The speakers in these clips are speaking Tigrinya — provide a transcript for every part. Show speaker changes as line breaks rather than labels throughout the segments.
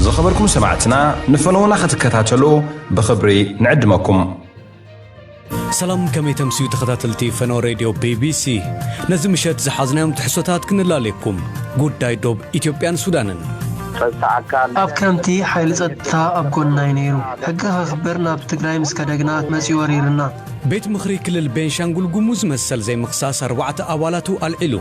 ዝኸበርኩም ሰማዕትና ንፈነዉና ክትከታተሉ ብኽብሪ ንዕድመኩም።
ሰላም ከመይ ተምስዩ ተኸታተልቲ ፈኖ ሬድዮ ቢቢሲ ነዚ ምሸት ዝሓዝናዮም ትሕሶታት ክንላለየኩም ጉዳይ ዶብ ኢትዮጵያን ሱዳንን ጸጥታ ኣካል
ኣብ ከምቲ ሓይሊ ጸጥታ ኣብ ጎንና'ዩ ነይሩ። ሕጊ ከኽብር ናብ ትግራይ ምስ ከደግና መጺኡ ወሪርና። ቤት ምኽሪ
ክልል ቤንሻንጉል ጉሙዝ መሰል ዘይምኽሳስ ኣርባዕተ ኣባላቱ ኣልዒሉ።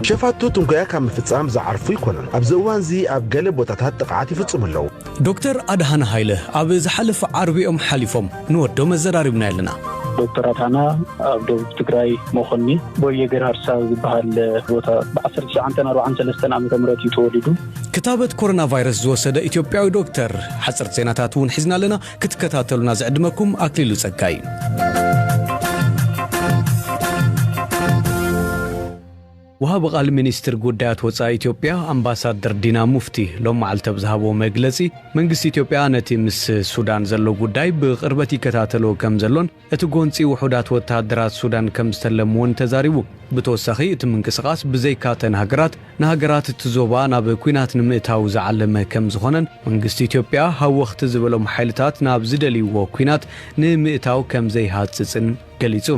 ሸፋቱ ትንኮያ ካብ ምፍጻም ዝዓርፉ ኣይኮኑን። ኣብዚ እዋንዚ ኣብ ገለ ቦታታት ጥቕዓት ይፍጽሙ ኣለዉ። ዶክተር ኣድሃነ
ሃይለ ኣብ ዝሓለፈ ዓርቢ'ዮም ሓሊፎም። ንወዶም ኣዘራሪብናዮ ኣለና። ዶክተር ኣድሃና
ኣብ ደቡብ ትግራይ መኾኒ ቦየ ገርሃርሳ ዝበሃል ቦታ ብ ዓሰርተ ትሽዓንተን ኣርብዓን ሰለስተን ዓመተ ምህረት እዩ ተወሊዱ። ክታበት
ኮሮናቫይረስ ዝወሰደ ኢትዮጵያዊ ዶክተር። ሓጸርቲ ዜናታት እውን ሒዝና ኣለና። ክትከታተሉና ዝዕድመኩም ኣክሊሉ ጸጋ እዩ። ወሃቢ ቃል ሚኒስትር ጉዳያት ወፃኢ ኢትዮጵያ ኣምባሳደር ዲና ሙፍቲ ሎም መዓልቲ ኣብ ዝሃቦ መግለፂ መንግስቲ ኢትዮጵያ ነቲ ምስ ሱዳን ዘሎ ጉዳይ ብቕርበት ይከታተሎ ከም ዘሎን እቲ ጎንፂ ውሑዳት ወተሃደራት ሱዳን ከምዝተለም እውን ተዛሪቡ። ብተወሳኺ እቲ ምንቅስቓስ ብዘይካ እተን ሃገራት ንሃገራት እቲ ዞባ ናብ ኲናት ንምእታው ዝዓለመ ከምዝኾነን መንግስቲ ኢትዮጵያ ሃወኽቲ ዝበሎም ሓይልታት ናብ ዝደልይዎ ኲናት ንምእታው ከምዘይሃፅፅን ገሊፁ።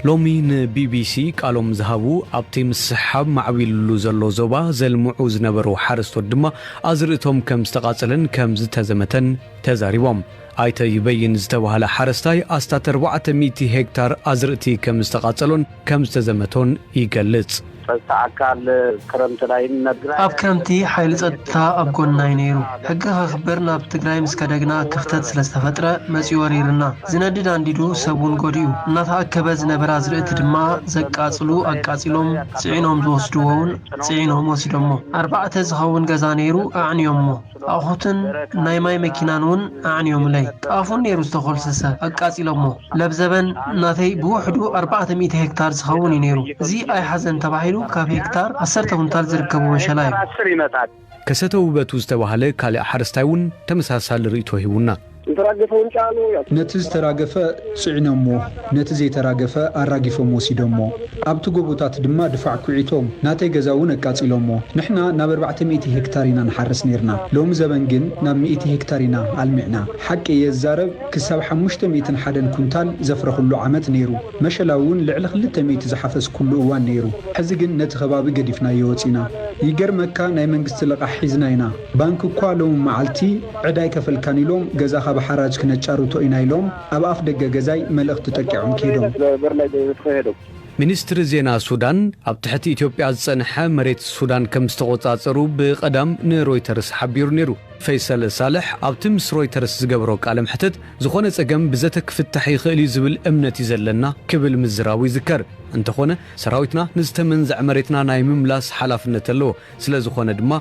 ሎሚ ንቢቢሲ ቃሎም ዝሃቡ ኣብቲ ምስሕሓብ ማዕቢሉሉ ዘሎ ዞባ ዘልምዑ ዝነበሩ ሓረስቶት ድማ ኣዝርእቶም ከምዝተቓፀለን ከምዝተዘመተን ተዛሪቦም። ኣይተ ይበይን ዝተባህለ ሓረስታይ ኣስታት ኣርባዕተ ሚእቲ ሄክታር ኣዝርእቲ ከምዝተቓፀሎን ከምዝተዘመቶን ይገልፅ። ፀፅታ ኣካል ክረምቲ ላይ
ንነግራይ። ኣብ ክረምቲ ሓይሊ ፀጥታ ኣብ ጎንና ዩ ነይሩ። ሕጊ ከኽብር ናብ ትግራይ ምስ ከደ ግና ክፍተት ስለዝተፈጥረ መፂኡ ወሪርና። ዝነድድ ኣንዲዱ ሰብ ውን ጎዲኡ። እናተኣከበ ዝነበረ ኣዝርእቲ ድማ ዘቃፅሉ ኣቃፂሎም ፅዒኖም ዝወስድዎ ውን ፅዒኖም ወሲዶሞ። ኣርባዕተ ዝኸውን ገዛ ነይሩ ኣዕንዮሞ። ኣቑሑትን ናይ ማይ መኪናን እውን ኣዕንዮምለይ። ጣፉን ነይሩ ዝተኾልሰሰ፣ ኣቃጺሎሞ። ለብዘበን ናተይ ብውሕዱ ኣርባዕተ ሚእቲ ሄክታር ዝኸውን እዩ ነይሩ። እዚ ኣይሓዘን ተባሂሉ ካብ ሄክታር ዓሰርተ ኩንታል ዝርከቡ መሸላ እዩ።
ከሰተ ውበቱ ዝተባህለ ካልእ ሓረስታይ እውን ተመሳሳሊ ርእይቶ ሂቡና። ዝተራገፈ ውን ጫኑ ያትርፎ።
ነቲ ዝተራገፈ ጽዒኖምዎ ነቲ ዘይተራገፈ ኣራጊፎም ወሲዶምዎ ኣብቲ ጎቦታት ድማ ድፋዕ ኩዒቶም ናተይ ገዛ ውን ኣቃጺሎምዎ ንሕና ናብ ኣርባዕተ ሚእቲ ሄክታር ኢና ንሓርስ ኔርና ሎሚ ዘበን ግን ናብ ሚእቲ ሄክታር ኢና ኣልሚዕና ሓቂ እየ ዝዛረብ ክሳብ ሓሙሽተ ሚእትን ሓደን ኩንታል ዘፍረኽሉ ዓመት ኔሩ መሸላ ውን ልዕሊ ክልተ ሚእቲ ዝሓፈስኩሉ እዋን ኔሩ ሕዚ ግን ነቲ ከባቢ ገዲፍናዮ ወጺና ይገርመካ ናይ መንግስቲ ልቓሕ ሒዝና ኢና ባንኪ እኳ ሎሚ መዓልቲ ዕዳ ኣይከፈልካን ኢሎም ገዛኻ ብሓራጅ ክነጫርቶ ኢና ኢሎም ኣብ ኣፍ ደገ ገዛይ መልእኽቲ ጠቂዖም ከይዶም። ሚኒስትሪ
ዜና ሱዳን፣ ኣብ ትሕቲ ኢትዮጵያ ዝጸንሐ መሬት ሱዳን ከም ዝተቖጻጸሩ ብቐዳም ንሮይተርስ ሓቢሩ ነይሩ። ፈይሰል ሳልሕ ኣብቲ ምስ ሮይተርስ ዝገበሮ ቃለ መሕትት፣ ዝዀነ ጸገም ብዘተ ክፍታሕ ይኽእል'ዩ ዝብል እምነት'ዩ ዘለና ክብል ምዝራቡ ይዝከር። እንተዀነ፣ ሰራዊትና ንዝተመንዘዐ መሬትና ናይ ምምላስ ሓላፍነት ኣለዎ። ስለ ዝኾነ ድማ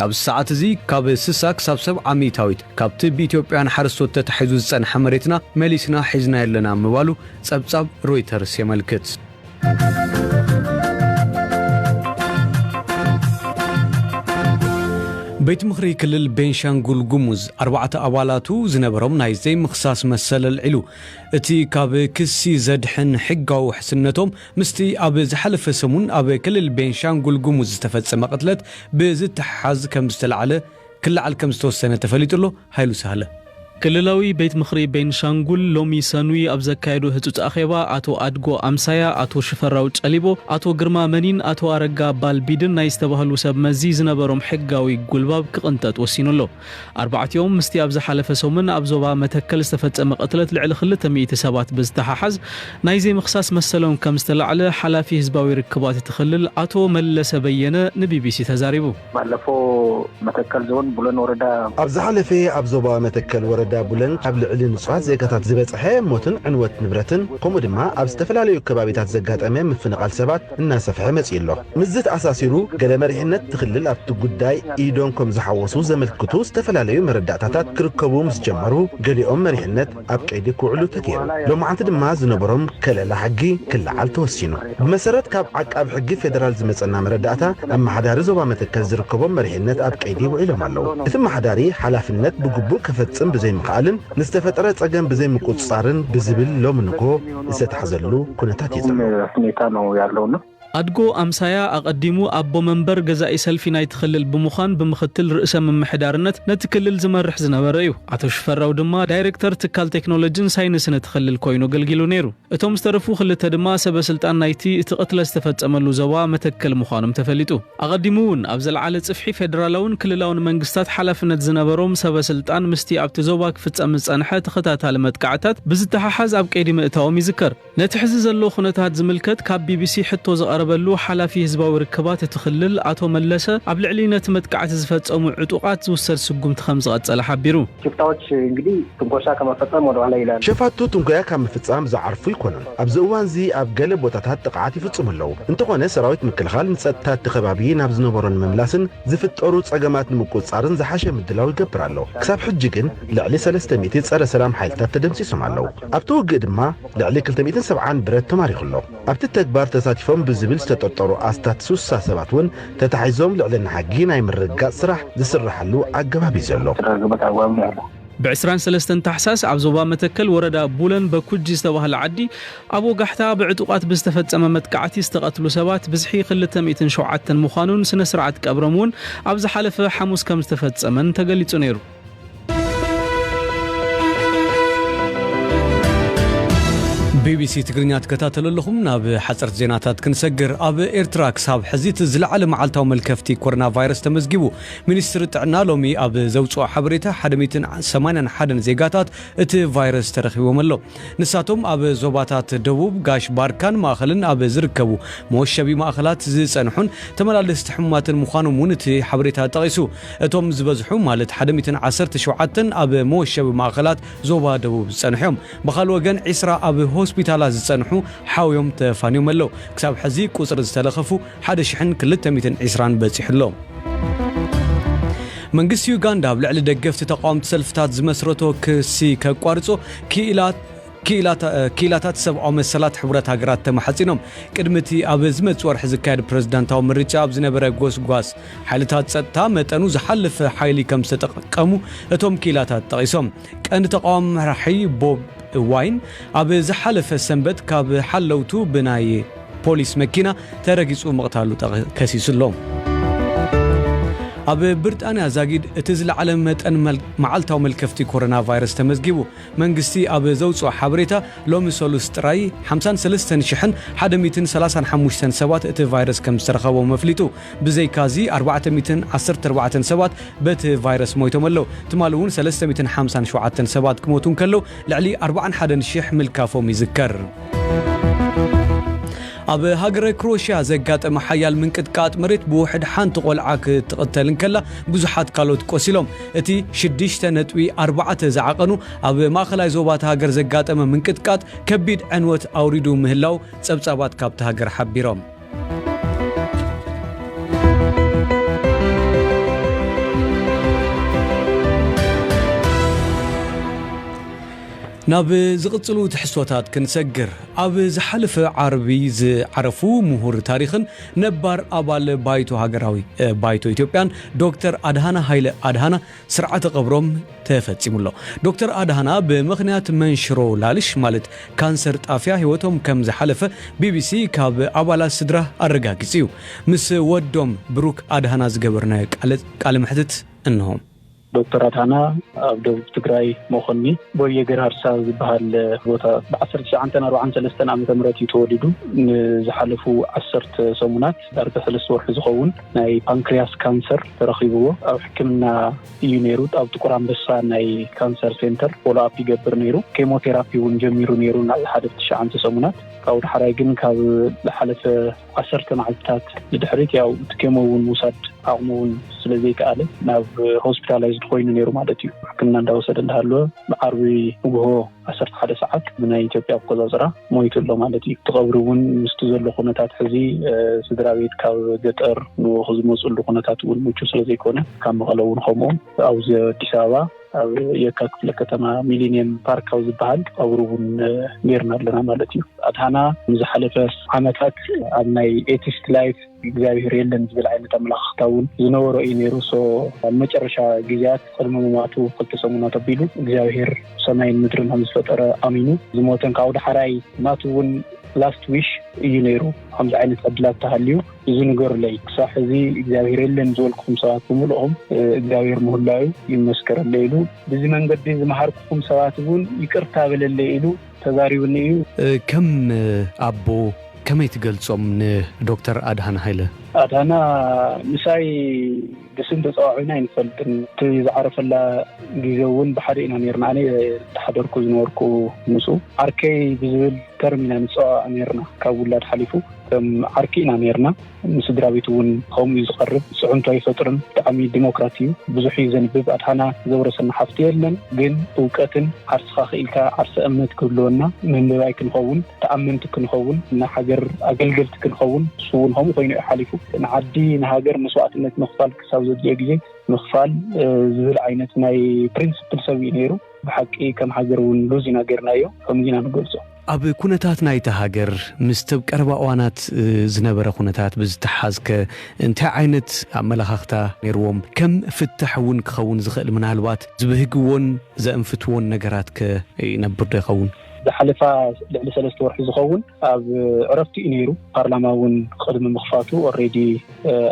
ኣብዚ ሰዓት እዚ ካብ ስሳ ክሳብ ሰብዓ ሚእታዊት ካብቲ ብኢትዮጵያውያን ሓረስቶት ተታሒዙ ዝጸንሐ መሬትና መሊስና ሒዝናዮ ኣለና ምባሉ ጸብጻብ ሮይተርስ የመልክት። ቤት ምኽሪ ክልል ቤንሻንጉል ጉሙዝ ኣርባዕተ ኣባላቱ ዝነበሮም ናይ ዘይምኽሳስ መሰል ኣልዒሉ። እቲ ካብ ክሲ ዘድሕን ሕጋዊ ውሕስነቶም ምስቲ ኣብ ዝሓለፈ ሰሙን ኣብ ክልል ቤንሻንጉል ጉሙዝ ዝተፈጸመ ቅትለት ብዝተሓሓዝ ከም ዝተላዕለ ክለዓል ከም ዝተወሰነ ተፈሊጡ'ሎ፣ ሃይሉ ሳህለ። ክልላዊ ቤት ምኽሪ ቤንሻንጉል ሎሚ ሰኑይ ኣብ ዘካየዶ ህጹጽ ኣኼባ፣ ኣቶ ኣድጎ ኣምሳያ፣ ኣቶ ሽፈራው ጨሊቦ፣ ኣቶ ግርማ መኒን ኣቶ ኣረጋ ባልቢድን ናይ ዝተባህሉ ሰብ መዚ ዝነበሮም ሕጋዊ ጉልባብ ክቕንጠጥ ወሲኑ ኣሎ። ኣርባዕቲኦም ምስቲ ኣብ ዝሓለፈ ሰሙን ኣብ ዞባ መተከል ዝተፈጸመ ቅትለት ልዕሊ ክልተ ሚእቲ ሰባት ብዝተሓሓዝ ናይ ዘይምኽሳስ መሰሎም ከም ዝተላዕለ ሓላፊ ህዝባዊ ርክባት እቲ ክልል ኣቶ መለሰ በየነ ንቢቢሲ ተዛሪቡ። ባለፈው
መተከል ዞን ቡለን ወረዳ። ኣብ ዝሓለፈ ኣብ
ዞባ መተከል ወረዳ ቡለን ኣብ ልዕሊ ንጹሃት ዜጋታት ዝበጸሐ ሞትን ዕንወት ንብረትን ከምኡ ድማ ኣብ ዝተፈላለዩ ከባቢታት ዘጋጠመ ምፍንቓል ሰባት፣ እናሰፍሐ መጺኡ'ሎ። ምስዚ ተኣሳሲሩ ገለ መሪሕነት'ቲ ክልል ኣብቲ ጉዳይ ኢዶም ከም ዝሓወሱ ዘመልክቱ ዝተፈላለዩ መረዳእታታት ክርከቡ ምስ ጀመሩ ገሊኦም መሪሕነት ኣብ ቀይዲ ክውዕሉ ተገይሩ። ሎማዕንቲ ድማ ዝነበሮም ከለላ ሕጊ ክለዓል ተወሲኑ። ብመሰረት ካብ ዓቃቢ ሕጊ ፌደራል ዝመጸና መረዳእታ ኣመሓዳሪ ዞባ መተከል ዝርከቦም መሪሕነት ኣብ ቀይዲ ውዒሎም ኣለዉ። እቲ ኣመሓዳሪ ሓላፍነት ብግቡእ ከፈጽም ብዘይምኽኣልን ንዝተፈጠረ ጸገም ብዘይምቁጽጻርን ብዝብል ሎሚ
ንግሆ
ዝተታሕዘሉ ኩነታት እዩ ዘሎ። ሁኔታ ነው
ያለው
እና።
ኣድጎ ኣምሳያ ኣቐዲሙ ኣቦ መንበር ገዛኢ ሰልፊ ናይቲ ክልል ብምዃን ብምኽትል ርእሰ ምምሕዳርነት ነቲ ክልል ዝመርሕ ዝነበረ እዩ። ኣቶ ሽፈራው ድማ ዳይረክተር ትካል ቴክኖሎጅን ሳይንስን እቲ ክልል ኮይኑ ኣገልጊሉ ነይሩ። እቶም ዝተረፉ ክልተ ድማ ሰበ ስልጣን ናይቲ እቲ ቅትለት ዝተፈፀመሉ ዞባ መተከል ምዃኖም ተፈሊጡ። ኣቐዲሙ እውን ኣብ ዝለዓለ ጽፍሒ ፌደራላውን ክልላውን መንግስታት ሓላፍነት ዝነበሮም ሰበ ስልጣን ምስቲ ኣብቲ ዞባ ክፍጸም ዝጸንሐ ተኸታታሊ መጥቃዕታት ብዝተሓሓዝ ኣብ ቀይዲ ምእታዎም ይዝከር። ነቲ ሕዚ ዘሎ ኩነታት ዝምልከት ካብ ቢቢሲ ሕቶ ዝቐረበሉ ሓላፊ ህዝባዊ ርክባት እቲ ክልል ኣቶ መለሰ ኣብ ልዕሊ ነቲ መጥቃዕቲ ዝፈጸሙ ዕጡቓት ዝውሰድ ስጉምቲ ከም ዝቐጸለ ሓቢሩ። ሽፍታዎች እንግዲህ
ትንኮሳ ከመፈጸም ወደኋላ ይላሉ። ሸፋቱ ትንኮያ ካብ
ምፍጻም ዝዓርፉ ኣይኮኑን። ኣብዚ እዋንዚ ኣብ ገለ ቦታታት ጥቕዓት ይፍጽሙ ኣለዉ። እንተኾነ ሰራዊት ምክልኻል ንጸጥታ እቲ ከባቢ ናብ ዝነበሮ ንምምላስን ዝፍጠሩ ጸገማት ንምቁጽጻርን ዝሓሸ ምድላው ይገብር ኣሎ። ክሳብ ሕጂ ግን ልዕሊ ሰለስተ ሚእቲ ጸረ ሰላም ሓይልታት ተደምሲሶም ኣለዉ። ኣብቲ ውግእ ድማ ልዕሊ ክልተ ሚእትን ሰብዓን ብረት ተማሪኹ ኣሎ። ኣብቲ ተግባር ተሳቲፎም ብዝብል ዝተጠርጠሩ ኣስታት ስሳ ሰባት እውን ተታሒዞም ልዕልና ሕጊ ናይ ምርግጋጽ ስራሕ ዝስራሓሉ ኣገባብ እዩ ዘሎ።
ብ ዕስራን ሰለስተን ታሕሳስ ኣብ ዞባ መተከል ወረዳ ቡለን በኩጂ ዝተባህለ ዓዲ ኣብ ወጋሕታ ብዕጡቓት ብዝተፈጸመ መጥቃዕቲ ዝተቐትሉ ሰባት ብዝሒ ክልተ ሚእትን ሸውዓተን ምዃኑን ስነ-ስርዓት ቀብሮም እውን ኣብ ዝሓለፈ ሓሙስ ከም ዝተፈጸመን ተገሊጹ ነይሩ። ቢቢሲ ትግርኛ ትከታተሉ ኣለኹም። ናብ ሓጸርቲ ዜናታት ክንሰግር። ኣብ ኤርትራ ክሳብ ሕዚ እቲ ዝለዓለ መዓልታዊ መልከፍቲ ኮሮናቫይረስ ተመዝጊቡ። ሚኒስትሪ ጥዕና ሎሚ ኣብ ዘውጽኦ ሓበሬታ ሓደ ሚእትን ሰማንያን ሓደን ዜጋታት እቲ ቫይረስ ተረኺቦም ኣሎ። ንሳቶም ኣብ ዞባታት ደቡብ፣ ጋሽ ባርካን ማእኸልን ኣብ ዝርከቡ መወሸቢ ማእኸላት ዝጸንሑን ተመላለስቲ ሕሙማትን ምዃኖም እውን እቲ ሓበሬታ ጠቒሱ። እቶም ዝበዝሑ ማለት ሓደ ሚእትን ዓሰርተ ሸውዓተን ኣብ መወሸቢ ማእኸላት ዞባ ደቡብ ዝጸንሑ እዮም። ብኻልእ ወገን ዕስራ ኣብ ሆስፒታላት ዝጸንሑ ሓውዮም ተፋንዮም ኣለዉ። ክሳብ ሕዚ ቁጽሪ ዝተለኸፉ ሓደ ሽሕን ክልተ ሚእትን ዕስራን በጺሑ ኣሎ። መንግስቲ ዩጋንዳ ኣብ ልዕሊ ደገፍቲ ተቓወምቲ ሰልፍታት ዝመስረቶ ክሲ ከቋርጾ ክኢላት ክኢላታት ሰብኣዊ መሰላት ሕቡራት ሃገራት ተማሕጺኖም ቅድሚ እቲ ኣብ ዝመጽእ ወርሒ ዝካየድ ፕረዚዳንታዊ ምርጫ ኣብ ዝነበረ ጎስጓስ ሓይልታት ጸጥታ መጠኑ ዝሓለፈ ሓይሊ ከም ዝተጠቀሙ እቶም ክኢላታት ጠቒሶም ቀንዲ ተቓዋሚ መራሒ ቦብ ዋይን ኣብ ዝሓለፈ ሰንበት ካብ ሓለውቱ ብናይ ፖሊስ መኪና ተረጊጹ ምቕታሉ ከሲሱ ኣሎ። ኣብ ብርጣንያ ዛጊድ እቲ ዝለዓለ መጠን መዓልታዊ መልከፍቲ ኮሮና ቫይረስ ተመዝጊቡ። መንግስቲ ኣብ ዘውጽኦ ሓበሬታ ሎሚ ሰሉስ ጥራይ ሓምሳን ሰለስተን ሽሕን ሓደ ሚእትን ሰላሳን ሓሙሽተን ሰባት እቲ ቫይረስ ከምዝተረኸቦም ኣፍሊጡ። ብዘይካ'ዚ ኣርባዕተ ሚእትን ዓሰርተ ኣርባዕተን ሰባት በቲ ቫይረስ ሞይቶም ኣለው። ትማሊ እውን ሰለስተ ሚእትን ሓምሳን ሸውዓተን ሰባት ክሞቱ እንከለው፣ ልዕሊ ኣርባዓን ሓደን ሽሕ ምልካፎም ይዝከር። ኣብ ሃገረ ክሮሽያ ዘጋጠመ ሓያል ምንቅጥቃጥ መሬት ብውሕድ ሓንቲ ቆልዓ ክትቕተል እንከላ ብዙሓት ካልኦት ቆሲሎም። እቲ ሽዱሽተ ነጥቢ ኣርባዕተ ዝዓቐኑ ኣብ ማእኸላይ ዞባ እታ ሃገር ዘጋጠመ ምንቅጥቃጥ ከቢድ ዕንወት ኣውሪዱ ምህላው ጸብጻባት ካብታ ሃገር ሓቢሮም። ናብ ዝቕጽሉ ትሕዝቶታት ክንሰግር፣ ኣብ ዝሓለፈ ዓርቢ ዝዓረፉ ምሁር ታሪኽን ነባር ኣባል ባይቶ ሃገራዊ ባይቶ ኢትዮጵያን ዶክተር ኣድሃና ሃይለ ኣድሃና፣ ስርዓተ ቀብሮም ተፈፂሙ ኣሎ። ዶክተር ኣድሃና ብምኽንያት መንሽሮ ላልሽ ማለት ካንሰር ጣፍያ ህይወቶም ከም ዝሓለፈ ቢቢሲ ካብ ኣባላት ስድራ ኣረጋጊፁ እዩ። ምስ ወዶም ብሩክ ኣድሃና ዝገበርናዮ ቃለ መሕትት እነሆ። ዶክተር ኣድሃና
ኣብ ደቡብ ትግራይ መኾኒ ቦየ ገርሃርሳ ዝበሃል ቦታ ብ ዓሰርተ ትሽዓን ኣርብዓን ሰለስተን ዓመተ ምህረት እዩ ተወሊዱ። ንዝሓለፉ ዓሰርተ ሰሙናት። ዳርጋ ሰለስተ ወርሒ ዝኸውን ናይ ፓንክርያስ ካንሰር ተረኺብዎ ኣብ ሕክምና እዩ ነይሩ። ኣብ ጥቁር ኣንበሳ ናይ ካንሰር ሴንተር ፎሎኣፕ ይገብር ነይሩ። ኬሞቴራፒ እውን ጀሚሩ ነይሩ ንሓደ ትሽዓንተ ሰሙናት። ካብኡ ዳሕራይ ግን ካብ ዝሓለፈ ዓሰርተ መዓልትታት ንድሕሪት ያው እቲ ኬሞ እውን ምውሳድ ዓቕሙ እውን ስለ ዘይከኣለ ናብ ሆስፒታላይዝድ ኮይኑ ነይሩ ማለት እዩ። ሕክምና እንዳወሰደ እንዳሃለወ ብዓርቢ ንጉሆ ዓሰርተ ሓደ ሰዓት ብናይ ኢትዮጵያ ኣቆፃፅራ ሞይቱ ኣሎ ማለት እዩ። እቲ ቀብሪ እውን ምስቲ ዘሎ ኩነታት ሕዚ ስድራ ቤት ካብ ገጠር ንኡኽ ዝመፅሉ ኩነታት እውን ምቹ ስለ ዘይኮነ ካብ መቐለ እውን ከምኡ ኣብዚ ኣዲስ ኣበባ ኣብ የካ ክፍለ ከተማ ሚሊኒየም ፓርክ ኣብ ዝበሃል ቀብሪ እውን ጌርና ኣለና ማለት እዩ። ኣድሃና ንዝሓለፈ ዓመታት ኣብ ናይ ኤቲስት ላይፍ እግዚኣብሔር የለን ዝብል ዓይነት ኣመለኻኽታ እውን ዝነበሮ እዩ ነይሩ። ሶ ኣብ መጨረሻ ግዜያት ቅድሚ ምሟቱ ክልተ ሰሙናት ኣቢሉ እግዚኣብሔር ሰማይን ምድርን ከም ዝፈጠረ ኣሚኑ ዝሞተን ካብኡ ዳሕራይ ናቱ እውን ላስት ዊሽ እዩ ነይሩ። ከምዚ ዓይነት ዕድላት ተሃልዩ እዚ ንገሩለይ። ክሳብ ሕዚ እግዚኣብሔር የለን ዝበልኩኹም ሰባት ብምልኦም እግዚኣብሔር ምህላዩ ይመስከረለይ ኢሉ። ብዚ መንገዲ ዝመሃርኩኹም ሰባት እውን ይቅርታ በለለይ ኢሉ። ተዛሪብኒ እዩ። ከም
ኣቦ ከመይ ትገልጾም ንዶክተር ኣድሃና ሃይለ? ኣድሃና
ምሳይ ብስም ተጸዋዒዕና ኣይንፈልጥን። እቲ ዝዓረፈላ ግዜ እውን ብሓደ ኢና ኔርና። ኣነ ዝተሓደርኩ ዝነበርኩ ምስኡ። ዓርከይ ብዝብል ተርም ኢና ንጸዋዋዕ ኔርና። ካብ ውላድ ሓሊፉ ከም ዓርኪ ኢና ኔርና። ንስድራቤቱ እውን ከምኡ እዩ ዝቐርብ። ጽዕንቶ ኣይፈጥርን። ብጣዕሚ ዲሞክራት እዩ። ብዙሕ እዩ ዘንብብ። ኣድሃና ዘውረሰና ሃፍቲ የለን። ግን እውቀትን ዓርስኻ ክኢልካ ዓርሰ እምነት ክህልወና፣ መንበባይ ክንኸውን፣ ተኣመንቲ ክንኸውን፣ ንሃገር ኣገልገልቲ ክንኸውን ንሱ እውን ከምኡ ኮይኑ እዩ ሓሊፉ። ንዓዲ ንሃገር መስዋእትነት ምኽፋል ክሳብ ዘድልዮ ግዜ ምኽፋል ዝብል ዓይነት ናይ ፕሪንስፕል ሰብ እዩ ነይሩ። ብሓቂ ከም ሃገር እውን ሉዝ ኢና ገይርናዮ ከምኡ ኢና ንገልጾ። ኣብ ኩነታት
ናይታ ሃገር ምስቲ ኣብ ቀረባ እዋናት ዝነበረ ኩነታት ብዝተሓሓዝከ እንታይ ዓይነት ኣመለኻኽታ ነይርዎም? ከም ፍታሕ እውን ክኸውን ዝኽእል ምናልባት ዝብህግዎን ዘእንፍትዎን ነገራትከ ይነብርዶ ይኸውን? ዝሓለፋ
ልዕሊ ሰለስተ ወርሒ ዝኸውን ኣብ ዕረፍቲ እዩ ነይሩ። ፓርላማ እውን ቅድሚ ምኽፋቱ ኦልሬዲ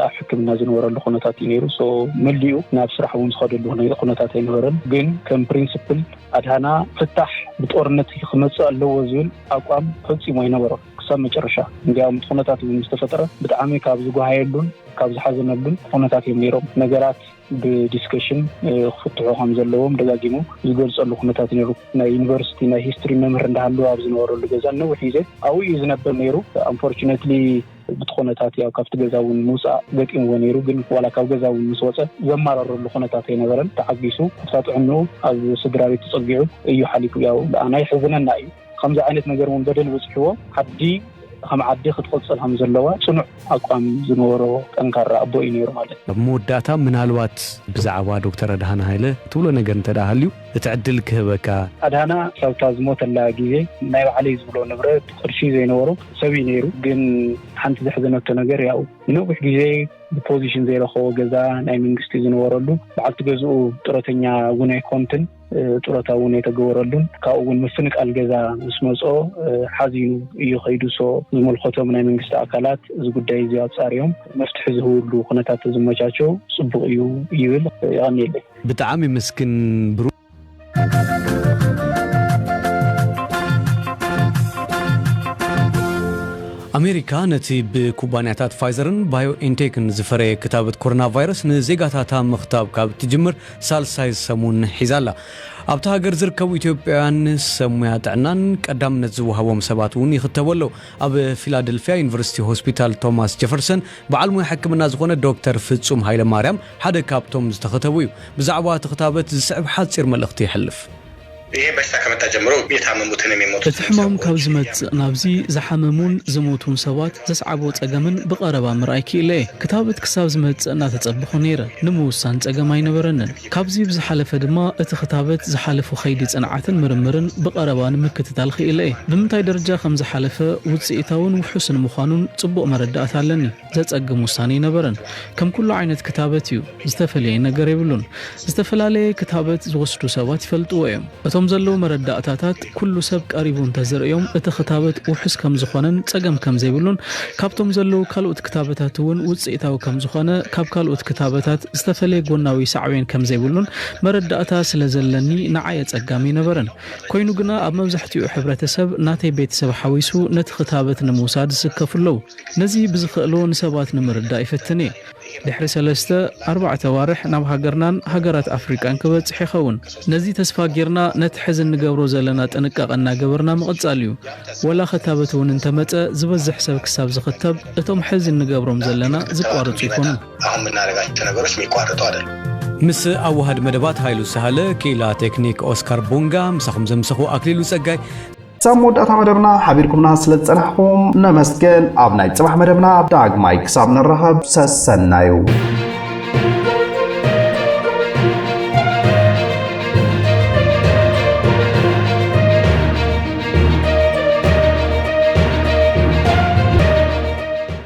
ኣብ ሕክምና ዝነበረሉ ኩነታት እዩ ነይሩ። ሶ መሊኡ ናብ ስራሕ እውን ዝኸደሉ ኩነታት ኣይነበረን። ግን ከም ፕሪንስፕል ኣድሃና ፍታሕ ብጦርነት ክመጽእ ኣለዎ ዝብል ኣቋም ፈጺሙ ኣይነበሮን ክሳብ መጨረሻ። እንድያውም እቲ ኩነታት እውን ምስ ተፈጠረ ብጣዕሚ ካብ ዝጓሃየሉን ካብ ዝሓዘነሉን ኩነታት እዮም ነይሮም። ነገራት ብዲስከሽን ክፍትሑ ከም ዘለዎም ደጋጊሙ ዝገልጸሉ ኩነታት ነይሩ። ናይ ዩኒቨርሲቲ ናይ ሂስትሪ መምህር እንዳሃለወ ኣብ ዝነበረሉ ገዛ ንነዊሕ ግዜ ኣብኡ እዩ ዝነብር ነይሩ። ኣንፎርቹነትሊ ብቲ ኩነታት ያው ካብቲ ገዛ እውን ምውፃእ ገጢምዎ ነይሩ ግን ዋላ ካብ ገዛ እውን ምስ ወፀ ዘማረረሉ ኩነታት ኣይነበረን ተዓጊሱ ኣብታ ጥዕንኡ ኣብ ስድራቤት ተፀጊዑ እዩ ሓሊፉ ያው ንኣና የሕዝነና እዩ ከምዚ ዓይነት ነገር እውን በደል በፂሕዎ ዓዲ ከም ዓዲ ክትቕፅል ከም ዘለዋ ፅኑዕ ኣቋም ዝነበሮ ጠንካራ ኣቦ እዩ ነይሩ ማለት ኣብ መወዳእታ ምናልባት
ብዛዕባ ዶክተር ኣድሃነ ሃይለ ትብሎ ነገር እንተ ሃልዩ እቲ ዕድል ክህበካ። ኣድሃና ካብታ
ዝሞተላ ግዜ ናይ ባዕለይ ዝብሎ ንብረት ቅርሺ ዘይነበሮ ሰብ እዩ ነይሩ ግን ሓንቲ ዘሕዘነቶ ነገር ያኡ ንነዊሕ ግዜ ብፖዚሽን ዘይረኸቦ ገዛ ናይ መንግስቲ ዝነበረሉ በዓልቲ ገዝኡ ጡረተኛ እውን ኣይኮንትን ጡረታ እውን ኣይተገበረሉን ካብኡ እውን ምፍንቃል ገዛ ምስ መፅኦ ሓዚኑ እዩ ከይዱ ሶ ዝመልከቶም ናይ መንግስቲ ኣካላት እዚ ጉዳይ እዚ ኣፃሪዮም መፍትሒ ዝህብሉ ኩነታት ተዝመቻቸው ፅቡቅ እዩ ይብል የቀኒየለይ ብጣዕሚ ምስግን
ብሩ ኣሜሪካ ነቲ ብኩባንያታት ፋይዘርን ባዮኤንቴክን ዝፈረየ ክታበት ኮሮና ቫይረስ ንዜጋታታ ምኽታብ ካብ እትጅምር ሳልሳይ ሰሙን ሒዛ ኣላ። ኣብታ ሃገር ዝርከቡ ኢትዮጵያውያን ሰብ ሙያ ጥዕናን ቀዳምነት ዝወሃቦም ሰባት እውን ይኽተቡ ኣለዉ። ኣብ ፊላደልፍያ ዩኒቨርሲቲ ሆስፒታል ቶማስ ጀፈርሰን በዓል ሞያ ሕክምና ዝኾነ ዶክተር ፍጹም ሃይለማርያም ሓደ ካብቶም ዝተኸተቡ እዩ። ብዛዕባ እቲ ክታበት ዝስዕብ ሓጺር መልእኽቲ የሕልፍ። ይሄ በሽታ
ከመጣ ጀምሮ የታመሙትን የሚሞቱትንም እቲ ሕማም ካብ ሰዎች ዝመጽእ
እያመጡ ናብዚ ዝሓመሙን ዝሞቱን ሰባት ዘስዓቦ ጸገምን ብቐረባ ምርኣይ ክኢለ'የ። ክታበት ክሳብ ዝመጽእ እናተጸበኹ ነይረ። ንምውሳን ጸገም ኣይነበረንን። ካብዚ ብዝሓለፈ ድማ እቲ ክታበት ዝሓለፉ ከይዲ ፅንዓትን ምርምርን ብቐረባ ንምክትታል ኽኢለ እየ። ብምንታይ ደረጃ ከም ዝሓለፈ፣ ውፅኢታውን ውሑስን ምዃኑን ፅቡቕ መረዳእታ ኣለኒ። ዘፀግም ውሳነ ኣይነበረን። ከም ኩሉ ዓይነት ክታበት እዩ። ዝተፈለየ ነገር የብሉን። ዝተፈላለየ ክታበት ዝወስዱ ሰባት ይፈልጥዎ እዮም። እቶም ዘለዉ መረዳእታታት ኩሉ ሰብ ቀሪቡ እንተዝርእዮም እቲ ክታበት ውሑስ ከምዝኾነን ፀገም ከምዘይብሉን ካብቶም ዘለዉ ካልኦት ክታበታት እውን ውፅኢታዊ ከምዝኾነ ካብ ካልኦት ክታበታት ዝተፈለየ ጎናዊ ሳዕቤን ከምዘይብሉን መረዳእታ ስለዘለኒ ንዓይ ኣፀጋሚ ኣይነበረን ኮይኑ ግና ኣብ መብዛሕቲኡ ሕብረተሰብ ናተይ ቤተሰብ ሓዊሱ ነቲ ክታበት ንምውሳድ ዝስከፉ ኣለዉ ነዚ ብዝኸእሎ ንሰባት ንምርዳእ ይፍትን እየ ድሕሪ ሰለስተ ኣርባዕተ ኣዋርሕ ናብ ሃገርናን ሃገራት ኣፍሪቃን ክበጽሕ ይኸውን። ነዚ ተስፋ ጌርና ነቲ ሕዚ እንገብሮ ዘለና ጥንቃቐ እናገበርና ምቕጻል እዩ። ወላ ክታበት እውን እንተመጸ ዝበዝሕ ሰብ ክሳብ ዝኽተብ እቶም ሕዚ እንገብሮም ዘለና ዝቋርጹ ኣይኮኑን። ኣሁን ምናረጋቸው
ነገሮች ሚቋረጡ ኣደሉም። ምስ
ኣዋሃድ መደባት ሃይሉ ሳህለ፣ ክኢላ ቴክኒክ ኦስካር ቡንጋ፣ ምሳኹም ዘምሰኹ ኣክሊሉ ጸጋይ። ክሳብ መወዳእታ
መደብና ሓቢርኩምና ስለ ዝጸናሕኩም ነመስግን። ኣብ ናይ ጽባሕ መደብና ዳግማይ ክሳብ ንራኸብ ሰሰናዩ።